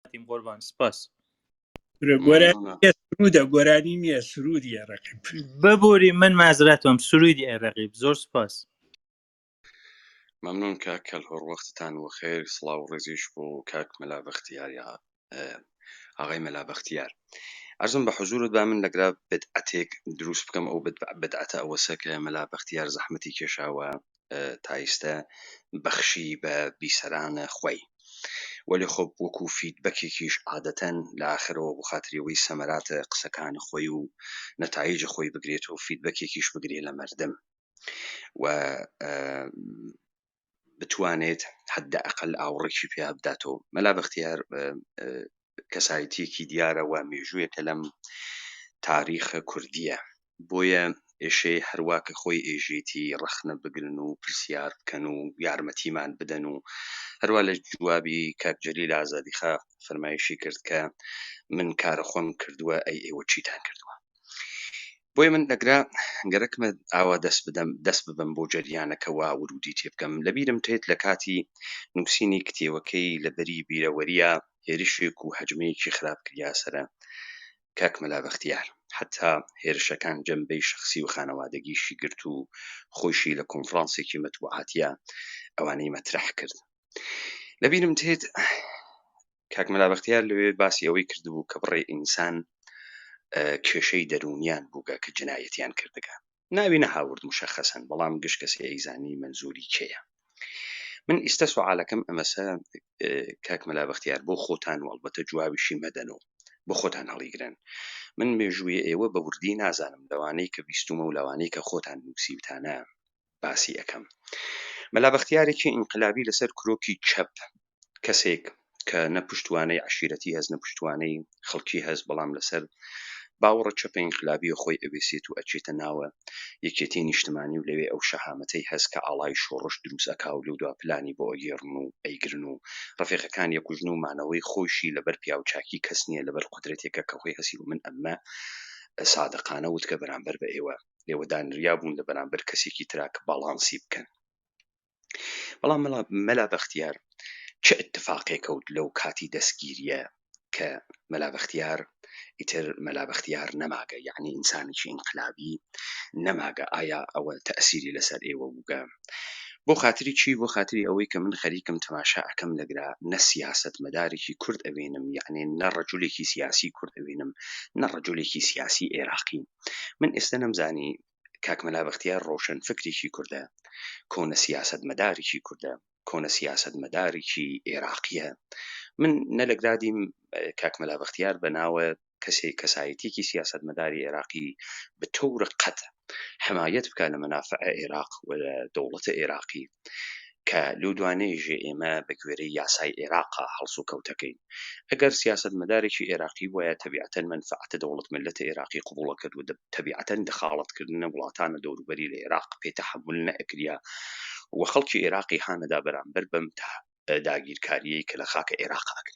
کاتیم قۆربان سپاس سرودە گۆرانی نییە سرودی ڕقیب ببووری من مازراتم سرودی ئەرەقیب زۆر سپاس ممنون کاک کەل هۆڕ وەختتان و خێر سڵاو و ڕێزیش بۆ کاک مەلا بەختیار یا ئاغای مەلا بەختیار ئەرزم بە حزورت با من لەگرا بدعەتێک دروست بکەم ئەو بدعەتە ئەوەسە کە مەلا بەختیار زەحمەتی کێشاوە تا ئیستە بەخشی بە بیسەرانە خوی وەلی خۆ وەکو فیدبەکێکیش عادەتەن لە ئاخرەوە بۆ خاتریەوەی سەمەراتە قسەکان خوی و نەتایج خوی بگرێت و فیدبەکێکیش بگرێ لە مەردم و بتوانێت حەدە ئەقەل ئاوڕێکی پیا بداتەوە مەلا بەختیار کەسایتیەکی دیارە وە مێژوویەکە لەم تاریخە کوردیە بۆیە ئێشێ هەروا کە خۆی ئێژێتی ڕەخنە بگرن و پرسیار بکەن و یارمەتیمان بدەن و هەروا لە جوابی کاک جەلیل ئازادیخا فەرمایشی کرد کە من کارە خۆم کردووە ئەی ئێوە چیتان کردووە بۆیە من دەگرا گەرەکمە ئاوا دەست بدەم دەست ببم بۆ جەریانەکە وا ورودی تێ بکەم لەبیرم تێت لە کاتی نووسینی کتێوەکەی لە بەری بیرەوەریە هێرشێک و هەجمەیەکی خراپ کریا سەرە کاک مەلا بەختیار حەتا هێرشەکان جەمبەی شەخسی و خانەوادەگیشی گرت و خۆیشی لە کۆنفرانسێکی مەتبوعاتیا ئەوانەی مەترح کرد لە بیرم تێت کاک مەلا بەختیار لەوێ باسی ئەوەی کردبوو کە بڕێ ئینسان کێشەی دەروونیان بووگە کە جنایەتیان کردگە ناوی نەهاورد مشخصەن بەڵام گشت کەسی ئەیزانی مەنزوری کێیە من ئیستا سوعالەکەم ئەمەسە کاک مەلا بەختیار بۆ خۆتان و ئەڵبەتە جوابیشی مەدەن و بۆ خۆتان هەڵیگرن من مێژووی ئێوە بە وردی نازانم لەوانەی کە بیستومە و لەوانەی کە خۆتان نووسیوتانە باسی ئەەکەم مەلا بەختیارێکی ئینقلابی لەسەر کرۆکی چەپ کەسێک کە نە پشتوانەی عەشیرەتی هەست نە پشتوانەی خەڵکی هەست بەڵام لەسەر باوەڕە چەپە ئینقلابییە خۆی ئەوێسێت و ئەچێتە ناوە یەکێتیی نیشتمانی و لەوێ ئەو شەهامەتەی هەست کە ئاڵای شۆڕش دروست ئەکا و لەودوا پلانی بۆ ئەگێڕن و ئەیگرن و ڕەفێقەکانی ئەکوژن و مانەوەی خۆیشی لەبەر پیاوچاکی کەس نییە لەبەر قودرەتێکە کە خۆی هەستی و من ئەمە سادقانە وت کە بەرامبەر بە ئێوە لێوە دانریا بوون لە بەرامبەر کەسێکی ترا کە باڵانسی بکەن. بەڵام مەلا مەلا بەختیار چ اتفاقێک کەوت لەو کاتی دەستگیریە کە مەلا بەختیار ئیتر مەلا بەختیار نەماگە یعنی ئینسانێکی ئینقلابی نەماگە ئایا ئەوە تەسیری لەسەر ئێوە بووگە بۆ خاتری چی بۆ خاتری ئەوەی کە من خەریکم تەماشا ئەکەم لەگرا نە سیاست مەدارێکی کورد ئەوێنم یعنی نە ڕەجولێکی سیاسی کورد ئەوێنم نە ڕەجولێکی سیاسی عێراقی من ئێستا نەمزانی کاک مەلا بەختیار ڕۆشنفکرێکی کوردە، کۆنە سیاسەتمەدارێکی کوردە، کۆنە سیاسەتمەدارێکی ئێراقییە. من نە لە گرادیم کاک مەلا بەختیار بە ناوە کەسێ کەسایەتییەکی سیاسەتمەداری ئێراقی بە تەور قەت حەمایەت بکا لە مەنافع ئێراق و دەوڵەتە ئێراقی، کە لەو دوانەی ژێ ئێمە بە گوێرەی یاسای ئێراقە هەڵسوکەوتەکەین. ئەگەر سیاسەتمەدارێکی ئێراقی بوایە تەبیعەتەن مەنفەعەتە دەوڵەت مللەتە ئێراقی قبوڵ ئەکرد و تەبیعەتەن دەخاڵەت کردنە وڵاتانە دەوروبەری لە ئێراق پێ تەحەمول نەئەکریا و خەڵکی ئێراقی هانەدا بەرامبەر بەم داگیرکاریەی کە لە خاکە ئێراقە ئەکرێ.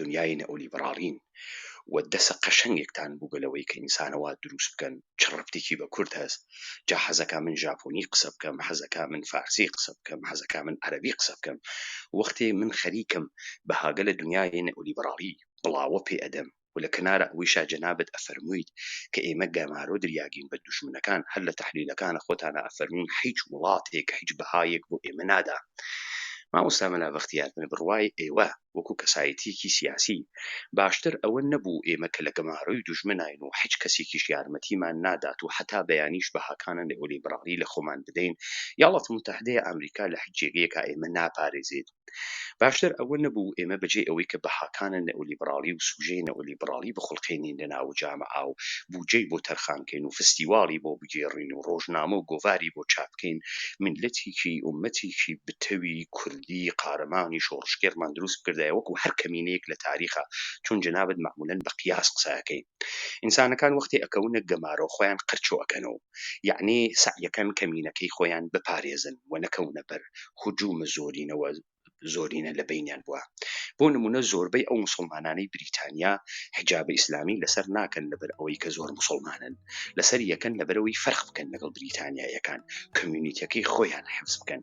دنیای نئولیبڕاڵین و دەسە قەشەنگێکتان بوگە لەوەی کە ئینسانە وا دروست بکەن چ ڕەبتیکی بە کورد هەس جا حەزەکا من ژاپۆنی قسە بکەم حەزەکا من فارسی قسە بکەم حەزەکا من عەرەبی قسە بکەم وەختێ من خەریکم بەهاگە لە دنیای نئولیبڕاڵی بڵاوە پێ ئەدەم و لە کەنارە ئەوەیشا جەنابت ئەفەرمویت کە ئێمە گەمارۆ دریاگین بە دوژمنەکان هەر لە تەحلیلەکانە خۆتانا ئەفەرموین حیچ وڵاتێک حیچ بەهایێک بۆ ئێمە نادا مامۆستا مەلا بەختیار من بڕوای ئێوە وەکو کەسایەتیەکی سیاسی باشتر ئەوە نەبوو ئێمە کە لە گەمارۆی دوژمناین و حیچ کەسیکیش یارمەتیمان نادات و حەتا بەیانیش بەهاکانە نئۆلیبرالی لە خۆمان بدەین یاڵات موتەحدەیە ئامریکا لە حیچ جێگەیەکا ئێمە ناپارێزێت باشتر ئەوە نەبوو ئێمە بەجێی ئەوەی کە بەهاکانە نئۆلیبرالی و سوژەی نئۆلیبرالی بخولقێنین لە ناوو جامەعا و بوجەی بۆ تەرخان کەین و فستیواڵی بۆ بگێڕین و ڕۆژنامە و گۆڤاری بۆ چاپ کەین میللەتیکی ئومەتیکی بتەوی کوردی کوردی قارەمانی شۆڕشگێڕمان دروست بکردایە وەکو هەر کەمینەیەک لە تاریخا چون جەنابت مەعمولەن بە قیاس قسە ئەکەی ئینسانەکان وەختێ ئەکەونە گەمارۆ خۆیان قرچۆ ئەکەنەوە یەعنی سەعیەکەن کەمینەکەی خۆیان بپارێزن و نەکەونە بەر هجوم زۆرینەوە زۆرینە لە بەینیان بوە بۆ نمونە زۆربەی ئەو موسڵمانانەی بریتانیا حجاب ئیسلامی لەسەر ناکەن لەبەر ئەوەی کە زۆر موسڵمانن لەسەر یەکەن لەبەرەوەی فەرق بکەن لەگەڵ بریتانیایەکان کمیونیتەکەی خۆیان حفز بکەن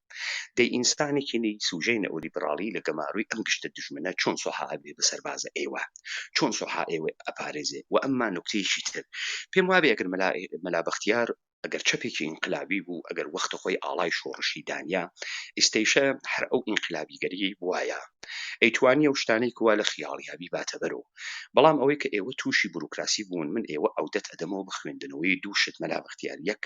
دەی ئینسانێکی نەی سوژەی نئولیبراڵی لە گەمارۆی ئەم گشتە دوژمنە چۆن سۆحا ئەبێ بە سەربازە ئێوە چۆن سۆحا ئێوەی ئەپارێزێ وە ئەمما نوکتەیەکی تر پێم وابێ ئەگەر مەلا مەلا بەختیار ئەگەر چەپێکی ئینقلابی بوو ئەگەر وەختە خۆی ئاڵای شۆڕشی دانیا ئیستەیشە هەر ئەو ئینقلابیگەریی بوایە ئەیتوانی ئەو شتانەی کوا لە خیاڵیا بیباتە بەرەو بەڵام ئەوەی کە ئێوە تووشی بروکراسی بوون من ئێوە ئەودەت ئەدەمەوە بە خوێندنەوەی دوو شت مەلا بەختیار یەک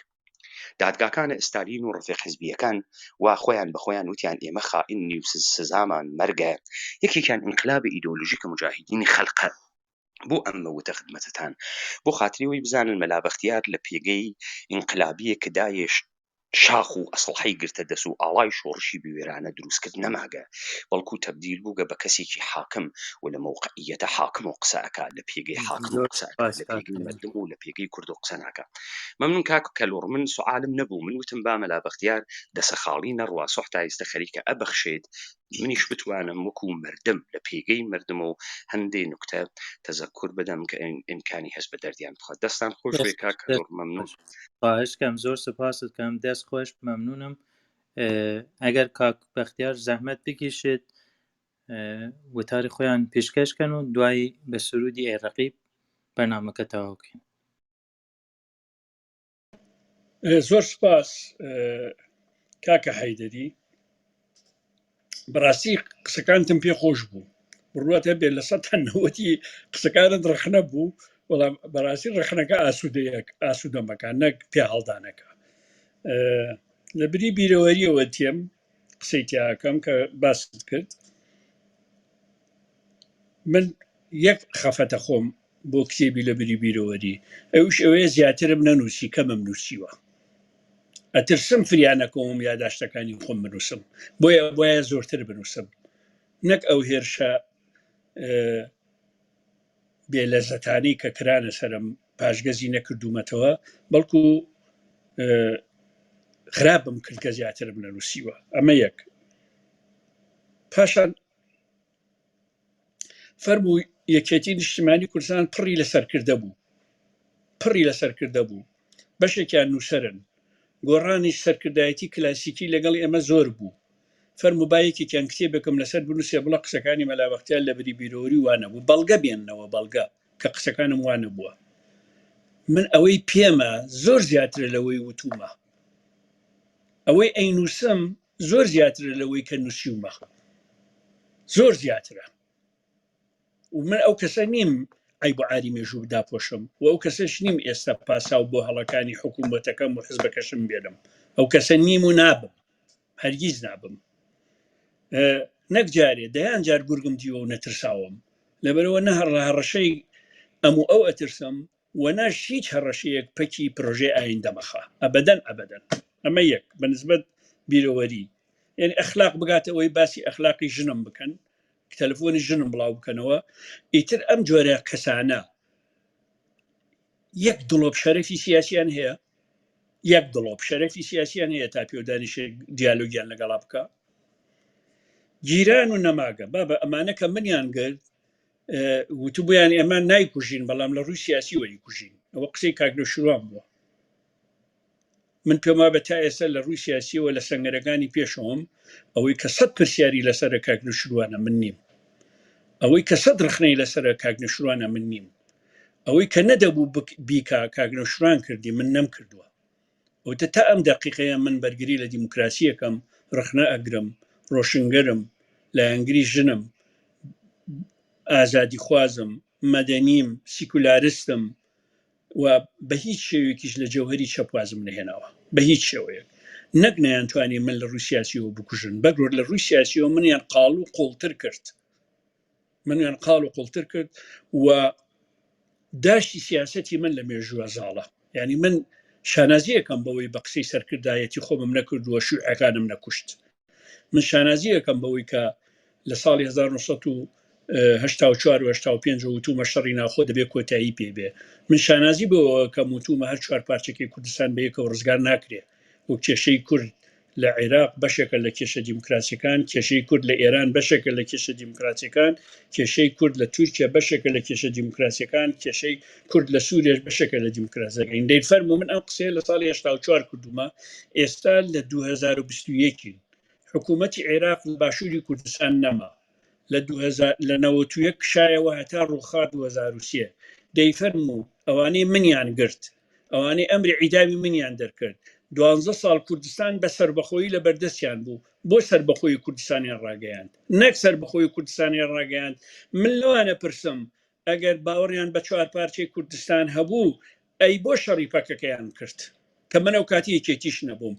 دادگاکانە ئستالین و ڕفێق حزبیەکان وا خۆیان بە خۆیان وتیان ئێمە خائین نی و سزامان مەرگە یەکێکیان ئینقلابی ئیدۆلوژیک کە مجاهیدینی خەلقە بۆ ئەم مەوتە خدمەتتان بۆ خاتریەوەی بزانن مەلا بەختیار لە پێگەی ئینقلابیە کە داێش شاخ و ئەسڵحەی گرتە دەس و ئاڵای شۆڕشی بوێرانە دروستکرد نەماگە بەڵکو تەبدیل بووگە بە کەسێکی حاکم و لە مەوقعیەتە حاکم و قسەکە لە پێگەی حاکم و قسەکە لە پێگەی مردم و لە پێگەی کورد و قسەناکە مەمنون کاک کەلوڕ من سوعالم نەبوو من وتم با مەلا بەختیار دەسە خاڵی نەڕوا سوح تا ئیستە خەریکە ئە بەخشێت منیش بتوانم وەکو مردم لە پێگەی مردم و هەندێ نوکتە تەزەکور بدەم کە ئیمکانی هەس بە دەردیان بخوات دەستان خۆش بێ کاک کەلوڕ مەمنون خواهشکەم زۆر سپاست کەم دەست خۆش مەمنونم ئەگەر کاک بەختیار زەحمەت بکیشێت وتاری خۆیان پیشکەشکەن و دوایی بە سرودی ئێڕقی بەنامەکە تەواوکەین زۆر سپاس کاکە حیدری بەڕاستی قسەکانتم پێ خۆش بوو بڕوات هەبێ لە سە تەنەوەتی قسەکانت ڕخنە بوو وەڵام بەڕاستی ڕخنەکە ئاسوودەیەک ئاسوودەمەکان نەک پێ هەڵدانەکە لە بری بیرەوەریەوە تێم قسەی تیاکەم کە باست کرد من یەک خەفەتە خۆم بۆ کتێبی لە بری بیرەوەری ئەوش ئەوەیە زیاترم نەنووسی کەمم نووسیوە ئەترسم فریانەکەوم یاداشتەکانی خۆم بنووسم بۆیە بۆیە زۆرتر بنووسم نەک ئەو هێرشە اه، بێ لەزەتانی کە کرانە سرم پاشگەزی نەکردوومەتەوە بەڵکو اه، خراپم کرد کە زیاترم نەنووسیوە ئەمە یەک پاشان فەرموو یەکێتی نیشتیمانی کوردستان پڕی لە سەرکردە بوو پڕی لە سەرکردە بوو بەشێکیان نووسەرن گۆڕانی سەرکردایەتی کلاسیکی لەگەڵ ئێمە زۆر بوو فەرمو با یەکێکیان کتێبێکم لەسەر بنووسێ بڵە قسەکانی مەلاوەختیان لە بری بیرۆری وانە بوو بەڵگە بێننەوە بەڵگە کە قسەکانم وانە بووە من ئەوەی پێمە زۆر زیاترە لەوەی وتومە ئەوەی ئەینووسم زۆر زیاترە لەوەی کە نووسیومە زۆر زیاترە و من ئەو کەسە نیم ئەی بۆ ئاری مێژوو داپۆشم و ئەو کەسش نیم ئێستا پاساو بۆ هەڵەکانی حکوومەتەکەم و حزبەکەشم بێنم ئەو کەسە نیم و نابم هەرگیز نابم اه، نەک جارێ دەیان جار گورگم دیوە و نەترساوم لەبەرەوە نە هەڕ- هەڕەشەی ئەم و ئەو ئەترسم و نەش هیچ هەڕەشەیەک پەکی پرۆژەی ئایندە مەخا ئەبەدەن ئەبەدەن ئەمە یەک بە نسبەت بیرەوەری یەنی ئەخلاق بگاتە ئەوەی باسی ئەخلاقی ژنم بکەن تەلفۆنی ژنم بڵاو بکەنەوە ئیتر ئەم جۆرە کەسانە یەک دڵۆپ شەرەفی سیاسیان هەیە یەک دڵۆپ شەرەفی سیاسیان هەیە تا پێودانی شێ دیالۆگیان لەگەڵا بکە گیران و نەماگە بابە ئەمانەکە منیان گرت وتبوویان ئێمە نایکوژین بەڵام لە ڕووی سیاسی وەری کوژین ئەوە قسەی کاکنە شوان بووە من پێما بە تا ئێستا لە ڕووی سیاسیەوە لە سنگەرەکانی پێشەوەم ئەوەی کە سەد پرسیاری لەسەر کاکنە شوانە من نیم ئەوەی کە سەد ڕخنەی لەسەر کاکنە شوانە من نیم ئەوەی کە نەدەبوو بیکا کاگرە شران کردی من نەم کردووە وتە تا ئەم دەقیقەیە من بەرگری لە دیموکراسیەکەم ڕەخنە ئەگرم ڕۆشنگەرم لایەنگری ژنم ئازادی خوازم مەدەنیم سیکولارستم و بە هیچ شێوێکیش لە جەوهری چەپ وازم نەهێناوە بە هیچ شێوەیەک نەک نەیانتوانی من لە ڕووی سیاسیەوە بکوژن بەگرۆر لە ڕووی سیاسیەوە منیان قاڵ و قوڵتر کرد منیان قاڵ و قوڵتر کرد و داشتی سیاستی من لە مێژووە زاڵە ینی من شانازیەکەم بەوەی بە قسەی سەرکردایەتی خۆمم نەکردووە شوعەکانم نەکوشت من شانازیەکەم بەوەی کە لە ساڵی 1940 وتومە شەڕی ناخۆ دەبێت کۆتایی پێ بێ من شانازی بۆ کەم وتومە هەر چوار پارچەکەی کوردستان بەیەکەوە ڕزگار ناکرێ وەک کێشەی کورد لە عێراق بەشێکە لە کێشە دیموکراسیەکان، کێشەی کورد لە ئێران بەشێکە لە کێشە دیموکراسیەکان، کێشەی کورد لە تورکیا بەشێکە لە کێشە دیموکراسیەکان، کێشەی کورد لە سوریەش بەشێکە لە دیموکراسیەکان. دەی فەرموو من ئەم قسەیە لە ساڵی هەشتا و چوار کردومە، ئێستا لە دوو هەزار و بیست و یەک ین، حکوومەتی عێراق لە باشووری کوردستان نەما، لە دوو هەزار لە نەوەت و یەک کشایەوە هەتا ڕووخا دوو هەزار و سێ، دەی فەرموو ئەوانەی منیان گرت، ئەوانەی ئەمری عیدامی منیان دەرکرد دوانزە ساڵ کوردستان بە سەربەخۆیی لە بەردەستیان بوو بۆ سەربەخۆیی کوردستانیان ڕاگەیاند نەک سەربەخۆیی کوردستانیان ڕاگەیاند من لەوانە پرسم ئەگەر باوەڕیان بە چوار پارچەی کوردستان هەبوو ئەی بۆ شەڕی پەکەکەیان کرد کە من ئەو کاتی یەکێتیش نەبووم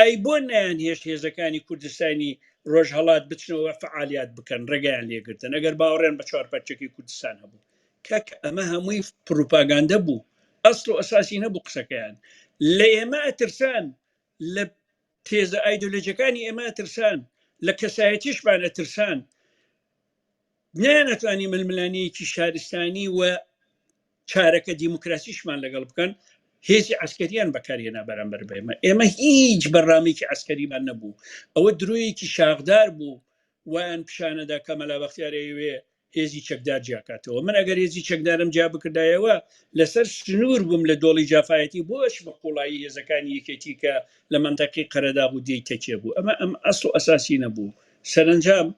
ئەی بۆ نیان هێشت هێزەکانی کوردستانی ڕۆژهەڵات بچنەوە فعالیات بکەن ڕێگەیان لێگرتن ئەگەر باوەڕیان بە چوار پارچەکەی کوردستان هەبوو کاکە ئەمە هەمووی پروپاگاندە بوو ئەسڵ و ئەساسی نەبوو قسەکەیان لە ئێمە ئەترسان لە تێزە ئایدۆلۆژیەکانی ئێمە ئەترسان لە کەسایەتیشمان ئەترسان نیانەتوانی ململانەیەکی شارستانی و چارەکە دیموکراسیشمان لەگەڵ بکەن هێزی عسکەریان بەکارهێنا بەرامبەر بێمە ئێمە هیچ بەڕامێکی عسکەریمان نەبوو ئەوە درۆیەکی شاخدار بوو وایان پیشانەدا کە مەلا بەختیارەیەوێ هێزی چەکدار جیاکاتەوە من ئەگەر هێزی چەکدارم جیا بکردایەوە لەسەر سنوور بووم لە دۆڵی جافایەتی بۆش بە قوڵایی هێزەکانی یەکێتی کە لە منتەقی قەرەداغ و دێی تەکێ بوو ئەمە ئەم ئەسڵ و ئەساسی نەبوو سەرنجام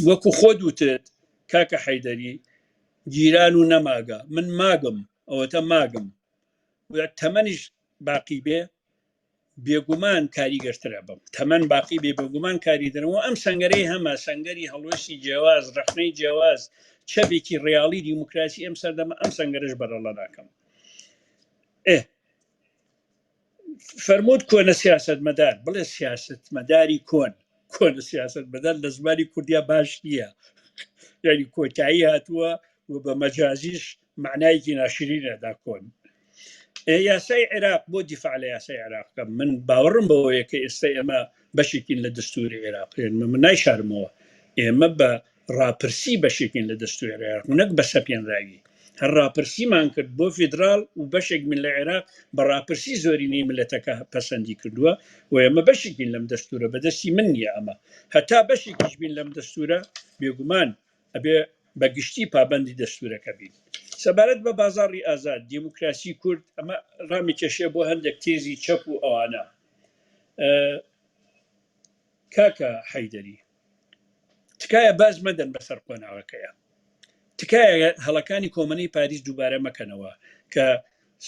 وەکو خۆت وتت کاکە حەیدەری گیران و نەماگە من ماگم ئەوەتە ماگم تەمەنیش باقی بێ بێگومان کاریگەرترە بەم تەمەن باقی بێ بێگومان کاریدرن و ئەم سەنگەرەی هەمە سەنگەری هەڵوێستی جیاواز ڕەخنەی جیاواز چەپێکی ڕیاڵی دیموکراسی ئەم سەردەمە ئەم سەنگەرش بەرەڵە ناکەم ئێ فەرمووت کۆنە سیاست مەدار بڵێ سیاست مەداری کۆن کۆنە سیاست مەدار لە زمانی کوردیا باش نییە یعنی کۆتایی هاتووە و بە مەجازیش مەعنایەکی ناشرین ئەدا کۆن. ئێ یاسای عێراق بۆ دیفاع لە یاسای عێراق بکەم من باوەڕم بەوەیە کە ئێستا ئێمە بەشێکین لە دەستوری عێراق ئێمە من نایشارمەوە ئێمە بە ڕاپرسی بەشێکین لە دەستوری عێراق و نەک بە سەپێنراوی هەر ڕاپرسیمان کرد بۆ فیدرال و بەشێک من لە عێراق بە ڕاپرسی زۆرینەی ملەتەکە پەسەندی کردووە و ئێمە بەشێکین لەم دەستورە بەدەستی من نییە ئەمە هەتا بەشێکیش بین لەم دەستورە بێگومان ئەبێ بە گشتی پابەندی دەستوورەکە بین. سەبارەت بە بازاڕی ئازاد، دێموکراسی کورد، ئەمە ڕامیکێشێ بۆ هەندێک تێزی چەپ و ئەوانە. کاکە حەیدەری، تکایە باز مەدەن بەسەر قۆناغەکەیە. تکایە هەڵەکانی کۆمەنەی پاریس دووبارە مەکەنەوە کە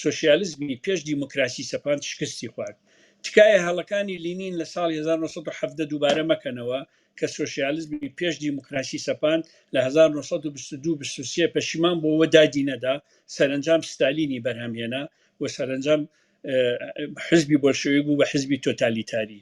سۆشیالیزمی پێش دیموکراسی سەپاند شکستی خوارد. تکایە هەڵەکانی لینین لە ساڵی هەزار و نۆ سەد و حەڤدە دووبارە مەکەنەوە کە سۆشیالیزمی پێش دیموکراسی سەپاند لە هەزار و نۆ سەد و بیست و دوو بیست و سێ پەشیمان بوو و دادی نەدا، سەرەنجام ستالینی بەرهەم هێنا و سەرەنجام حزبی بۆلشەویک بوو بە حزبی تۆتالیتاری.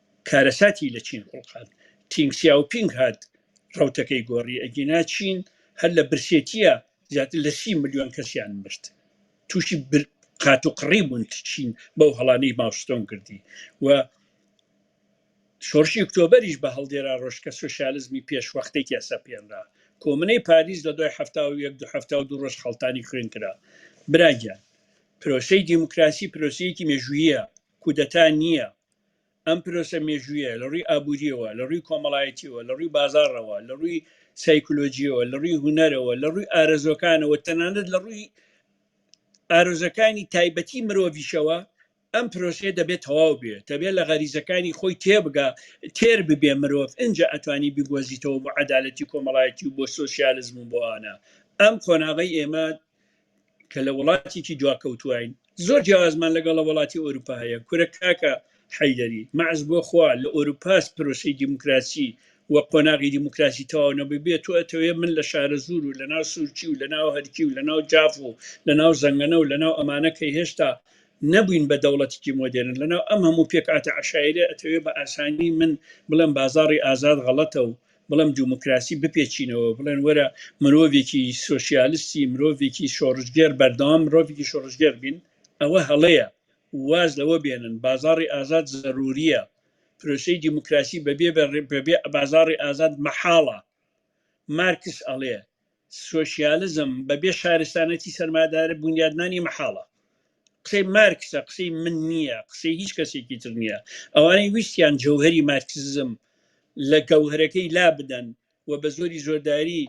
کارەساتی لە چین خوڵقاند تینگ سیاو پینگ هات ڕەوتەکەی گۆڕی ئەگینا چین هەر لە برسێتیە زیاتر لە سی ملیۆن کەسیان مرد توشی قاتوقڕی بوون چین بەو هەڵانەی ماوستۆنگ کردی و شۆڕشی ئۆکتۆبەریش بە هەڵدێرا ڕۆژکە سۆشیالزمی پێشوەختێکیا سەپێنرا کۆمنەی پاریس لە دوای هەفتا و یەک دو هەفتا و دوو ڕۆژ خەڵتانی خوێن کرا براگیان پرۆسەی دیموکراسی پرۆسەیەکی مێژوویە کودەتا نییە ئەم پرۆسە مێژوویە لە ڕووی ئابووریەوە، لە ڕووی کۆمەڵایەتیەوە، لە ڕووی بازاڕەوە، لە ڕووی سایکۆلۆژیەوە، لە ڕووی هونەرەوە، لە ڕووی ئارەزووەکانەوە، تەنانەت لە ڕووی ئارەزووەکانی تایبەتی مرۆڤیشەوە ئەم پرۆسەیە دەبێت تەواو بێت دەبێت لە غەریزەکانی خۆی تێبگا تێر ببێ مرۆڤ ئینجا ئەتوانی بیگۆزیتەوە بۆ عەدالەتی کۆمەڵایەتی و بۆ سۆسیالزم و بۆ ئانا ئەم قۆناغی ئێمە کە لە وڵاتێکی دواکەوتوواین زۆر جیاوازمان لەگەڵ وڵاتی ئەوروپا هەیە کورە کاکە حەیدەری مەعز بۆ خوا لە ئەوروپاس پرۆسی دیموکراسی و قۆناغی دیموکراسی تەواو نەببێت تۆ ئەتەوێ من لە شارەزوور و لە ناو سورچی و لە ناو هەرکی و لە ناو جاف و لە ناو زەنگەنە و لە ناو ئەمانە کە هێشتا نەبووین بە دەوڵەتێکی مۆدێرن لە ناو ئەم هەموو پێکهاتە عەشایرە ئەتەوێ بە ئاسانی من بڵێم بازاڕی ئازاد غەڵەتە و بەڵام دیموکراسی بپێچینەوە بڵێن وەرە مرۆڤێکی سۆسیالستی مرۆڤێکی شۆڕشگێر بەردەوام مرۆڤێکی شۆڕشگێر بین ئەوە هەڵەیە واز لەوە بێنن بازاری ئازاد زەروریە پرۆسی دیموکراسی بەبێ بەبێ بازاری ئازاد مەحاڵە مارکس ئەڵێ سۆشیالزم بەبێ شارستانەتی سەرمادارە بنیادنانی مەحاڵە قسەی مارکسە قسەی من نییە قسەی هیچ کەسێکی تر نییە ئەوانەی ویستیان جەوهری مارکسزم لە گەوهرەکەی لا بدەن و بە زۆری زۆرداری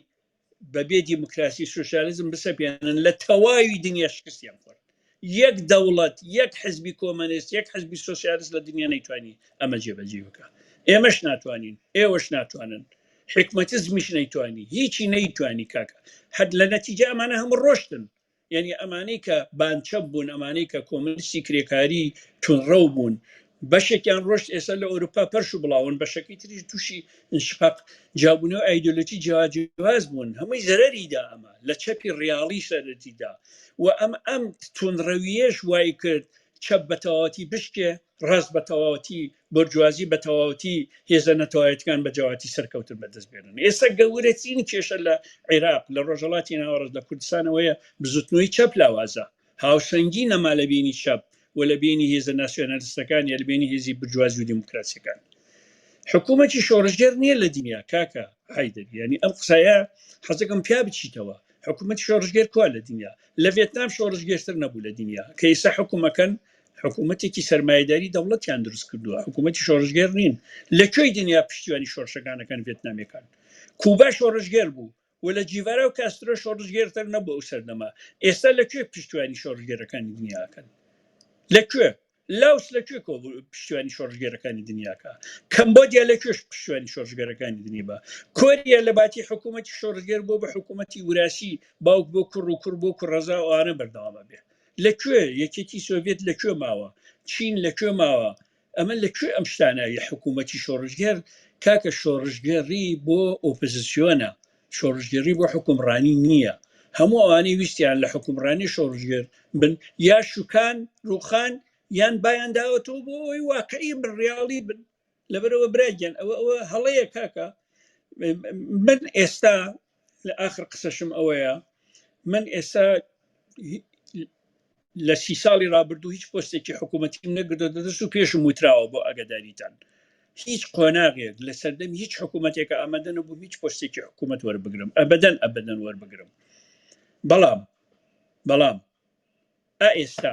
بەبێ دیموکراسی سوسیالزم بسەپێنن لە تەواوی دنیا شکستیان خۆن یەک دەوڵەت یەک حزبی کۆمەنست یەک حزبی سۆسیالست لە دنیا نەیتوانی ئەمە جێبەجێ بکا ئێمەش ناتوانین ئێوەش ناتوانن حکمەتزمیش نەیتوانی هیچی نەیتوانی کاکە هەر لە نەتیجە ئەمانە هەموو ڕۆشتن یعنی ئەمانەی کە بانچە بوون ئەمانەی کە کۆمەلسی کرێکاری تونڕەو بوون بەشێکیان ڕۆشت ئێستا لە ئەوروپا پەرش و بڵاون بەشەکەی تریش تووشی انشقاق جیابوونەوە ئایدۆلۆژی جیا جیاواز بوون هەمووی زەرەریدا ئەمە لە چەپی ڕیاڵی سەرەتیدا و ئەم ئەم توندڕەویەش وای کرد چەپ بە تەواوەتی بشکێ ڕاست بە تەواوەتی بۆرجوازی بە تەواوەتی هێزە نەتەوایەتەکان بە جیاواتی سەرکەوتن بەدەست بێنن ئێستا گەورەترین کێشە لە عێراق لە ڕۆژهەڵاتی ناوەڕاست لە کوردستانەوەیە بزوتنەوەی چەپ لاوازە هاوسەنگی نەما لە بینی چەپ و لە بینی هێزە ناسیۆنالستەکان یا لە بینی هێزی برجوازی و دیموکراسیەکان حکوومەتی شۆڕژێر نییە لە دنیا کاکە حیدر ینی ئەم قسایە حەزەکەم پیا بچیتەوە حکوومەت شۆڕژگەر کوا لە دنیا لە ڤێتنام شۆڕژگەشتر نەبوو لە دنیا کە ئیسا حکوومەکەن حکوومەتێکی سرمایهداری دەوڵەتیان دروست کردووە حکوومەتی شۆڕژگەر نین لە کوێی دنیا پشتیوانی شۆرشەکانەکان ڤێتنامەکان کوبا شۆڕژگەر بوو و لە جیڤارا و کاسترۆ شۆڕشگێرتر نەبوو ئەو سەردەمە ئێستا لە کوێ پشتیوانی شۆڕشگێرەکانی دنیاکەن لە کوێ لاوس لە کوێ کۆ پشتیوانی شۆڕشگێرەکانی دنیاکە کەمبۆدیا لە کوێش پشتیوانی شۆڕشگەرەکانی دنیا بە کۆریا لە باتی حکوومەتتی شۆڕشگەر بۆ بە حکوومەتتی وراسی باوک بۆ کوڕ و کوڕ بۆ کوڕەزا ئەوانە بەردەوامە بێ لە کوێ یەکێتی سۆڤێت لە کوێ ماوە چین لە کوێ ماوە ئەمە لە کوێ ئەم شتانە یە حکوومەتی شۆڕژگەر کاکە شۆڕژگەڕی بۆ ئۆپزسیۆنە شۆڕژگەری بۆ حکومڕانی نییە هەموو ئەوانەی ویستیان لە حکومڕانی شۆڕژگەر بن یا شوکان ڕوخان یان بایان داوەتەوە بۆ ئەوی واقعی من ڕاڵی بن لەبەرەوە براگەن ئەوە ئەوە هەڵەیە کاکە من ئێستا لە ئاخر قسەشم ئەوەیە من ئێستا هی- لە سی ساڵی رابردوو هیچ پۆستێکی حکوومەتیم نەگردو دەدەست و پێشم وتراوە بۆ ئاگاداریتان هیچ قۆناغێک لە سەردەمی هیچ حکوومەتێکە ئامادە نەبووم هیچ پۆستێکی حکوومەت وەربگرم ئەبدەن ئەبدەن وەربگرم بەڵام بەڵام ئا ئێستا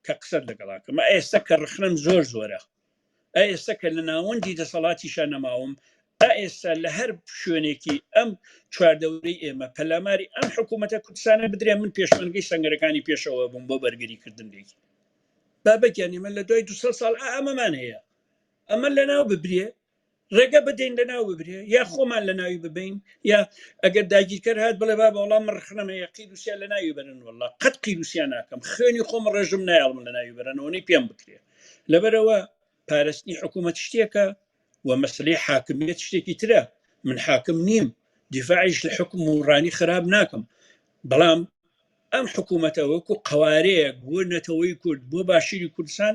کە قسەت لەگەڵ ئەکەم ئە ئێستا کە ڕخنەم زۆر زۆرە ئە ئێستا کە لە ناوەندی دەسەڵاتیشە نەماوم ئە ئێستا لە هەر شوێنێکی ئەم چواردەورەی ئێمە پەلاماری ئەم حکوومەتە کوردستانە بدرێ من پێشمەرگەی سنگەرەکانی پێشەوە بووم بۆ بەرگری کردن لێکی بابەکیان ئێمە لە دوای دو ساڵ ئامەمان هەیە ئەمە لە ناو ببرێ ڕێگە بدەین لە ناو ببرێ یا خۆمان لە ناوی ببین یا ئەگەر داگیرکەر هات بڵێ با بە وڵام من ڕخنەمە یا قیروسیا لە ناوی بەرن والله قەت قیروسیا ناکەم خوێنی خۆم ڕێژم نایڵم لە ناوی بەرەنەوەی پێم بکرێ لەبەرەوە پارستنی حکوومەت شتێکە و مەسلەی حاکمیت شتێکی ترە من حاکم نیم دیفاعش لە حکم و ڕانی خراب ناکەم بەڵام ئەم حکوومەتە وەکو قوارەیەک بۆ نەتەوەی کورد بۆ باشووری کوردستان